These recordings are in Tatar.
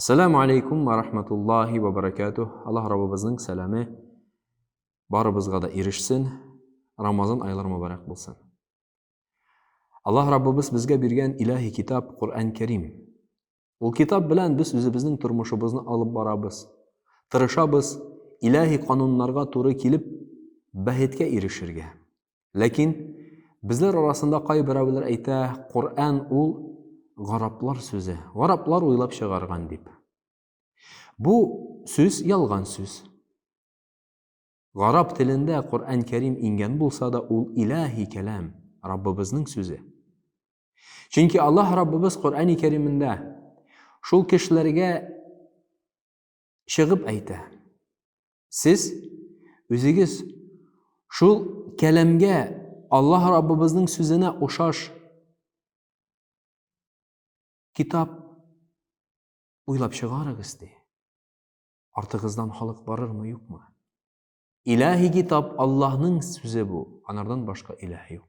Ассаламу алейкум ва рахматуллахи ва баракатух. Аллаһ Раббыбызның сәламе барыбызга да ирешсен. Рамазан айлары мөбарәк булсын. Аллаһ Раббыбыз безгә биргән илаһи китап Коръән Кәрим. Ул китап белән без үзебезнең тормышыбызны алып барабыз. Тырышабыз илаһи кануннарга туры килеп бәхеткә ирешергә. Ләкин безләр арасында кайберәүләр әйтә, Коръән ул гараплар сүзе, гараплар уйлап чыгарган дип. Бу сүз ялган сүз. Гарап телендә Коръән Кәрим иңгән булса да, ул илаһи кәлам, Раббыбызның сүзе. Чөнки Аллаһ Раббыбыз Коръәни Кәримендә шул кешеләргә чыгып әйтә. Сез үзегез шул кәләмгә Аллаһ Раббыбызның сүзенә ошаш китап уйлап чыгарыгыз ди. Артыгыздан халык барырмы, юкмы? Илаһи китап Аллаһның сүзе бу, анардан башка илаһ юк.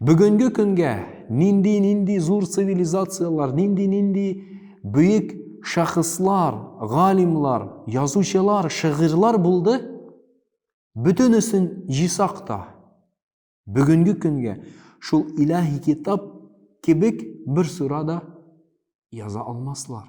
Бүгенге көнгә нинди-нинди зур цивилизацияләр, нинди-нинди бөек шәхесләр, галимлар, язучылар, шигырьләр булды. Бөтенесен җисак та бүгенге көнгә шул илаһи китап кебек бер сүрә дә яза алмаслар.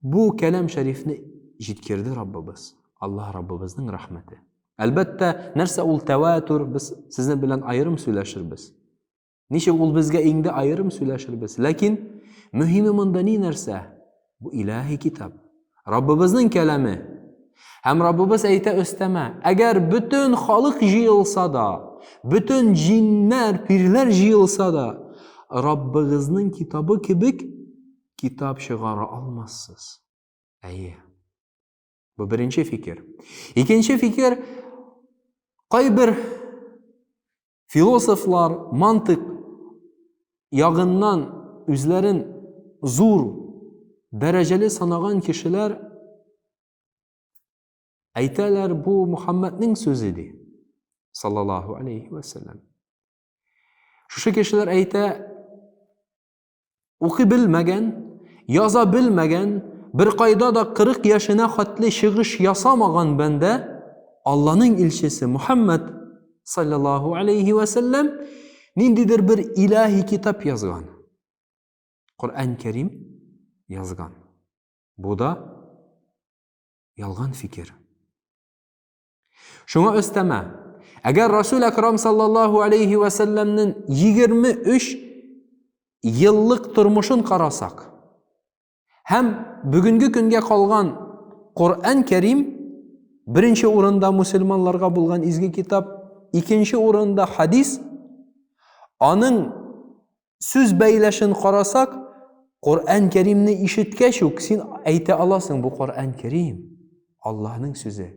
Бу кәләм шәрифне җиткерде Раббыбыз, Аллаһ Раббыбызның рәхмәте. Әлбәттә, нәрсә ул тәвәтүр, без сезнең белән аерым сөйләшербез. Ничек ул безгә иңде аерым сөйләшербез. Ләкин мөһиме монда ни нәрсә? Бу илаһи китап. Раббыбызның кәләме. Һәм Раббыбыз әйтә өстәмә, әгәр бөтен халык җыелса да, бөтен җиннәр, пирләр җыелса да, Раббыгызның китабы кебек китап чыгара алмассыз. Әйе. Бу беренче фикер. Икенче фикер кайбер философлар мантык ягыннан үзләрен зур дәрәҗәле санаган кешеләр әйтәләр бу Мухаммәднең сүзе ди. Саллаллаһу алейхи ва саллям. Шушы кешеләр әйтә Укый белмәгән, яза белмәгән, бер кайда да 40 яшенә хәтле чыгыш ясамаган бәндә Алланың илчесе Мухаммад саллаллаху алейхи ва саллям ниндидер бер илаһи китап язган. Коръән Кәрим язган. Бу да ялган фикер. Шуңа өстәмә, әгәр Расул Акрам саллаллаху алейхи ва салламның 23 еллык тормышын карасак, һәм бүгенге көнгә калган Коръән Кәрим беренче урында мусульманларга булган изге китап, икенче урында хадис, аның Сүз бәйләшен карасак, Коръән Кәримне ишеткәч үк син әйтә аласың, бу Коръән Кәрим, Аллаһның сүзе.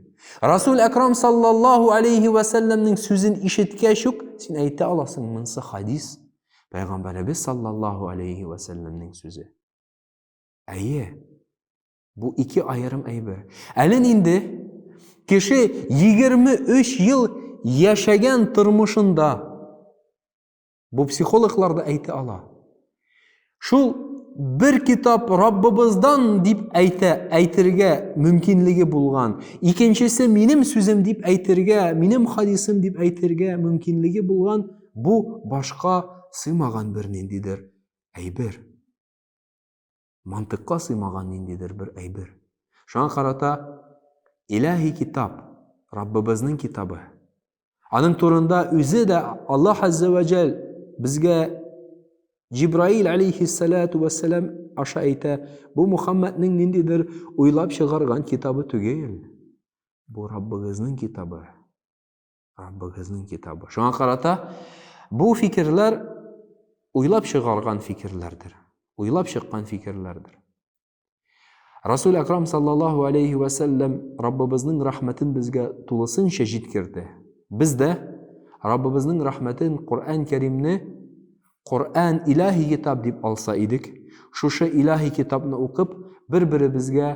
Расул Әкрам саллаллаһу алейхи ва салламның сүзен ишеткәч үк син әйтә аласың, монысы хадис, Пәйгамбәребез саллаллаһу алейхи ва салламның сүзе. Әйе. Бу ике аерым әйбер. Әле инде кеше 23 ел яшәгән тормышында Бу психологлар да әйтә ала. Шул бер китап Раббыбыздан дип әйтә, әйтергә мөмкинлеге булган. Икенчесе минем сүзем дип әйтергә, минем хадисым дип әйтергә мөмкинлеге булган бу башка сыймаган бер ниндидер әйбер. мантыйкка сыймаган ниндидер бер әйбер. Шуңа карата Илаһи китап, Раббыбызның китабы. Аның турында үзе дә Аллаһ Азза ва Джәл безгә Җибраил алейхиссалату вассалам аша әйтә, бу Мухаммадның ниндидер уйлап чыгарган китабы түгел. Бу Раббыгызның китабы. Раббыгызның китабы. Шуңа карата бу фикерләр уйлап чыгарган фикерләрдер. Уйлап чыккан фикерләрдер. Расул Акрам саллаллаху алейхи ва саллям Раббыбызның рәхмәтен безгә тулысынча җиткерде. Без дә Раббыбызның рәхмәтен Коръән Кәримне Коръән илаһи китап дип алса идек, шушы илаһи китапны укып, бер-беребезгә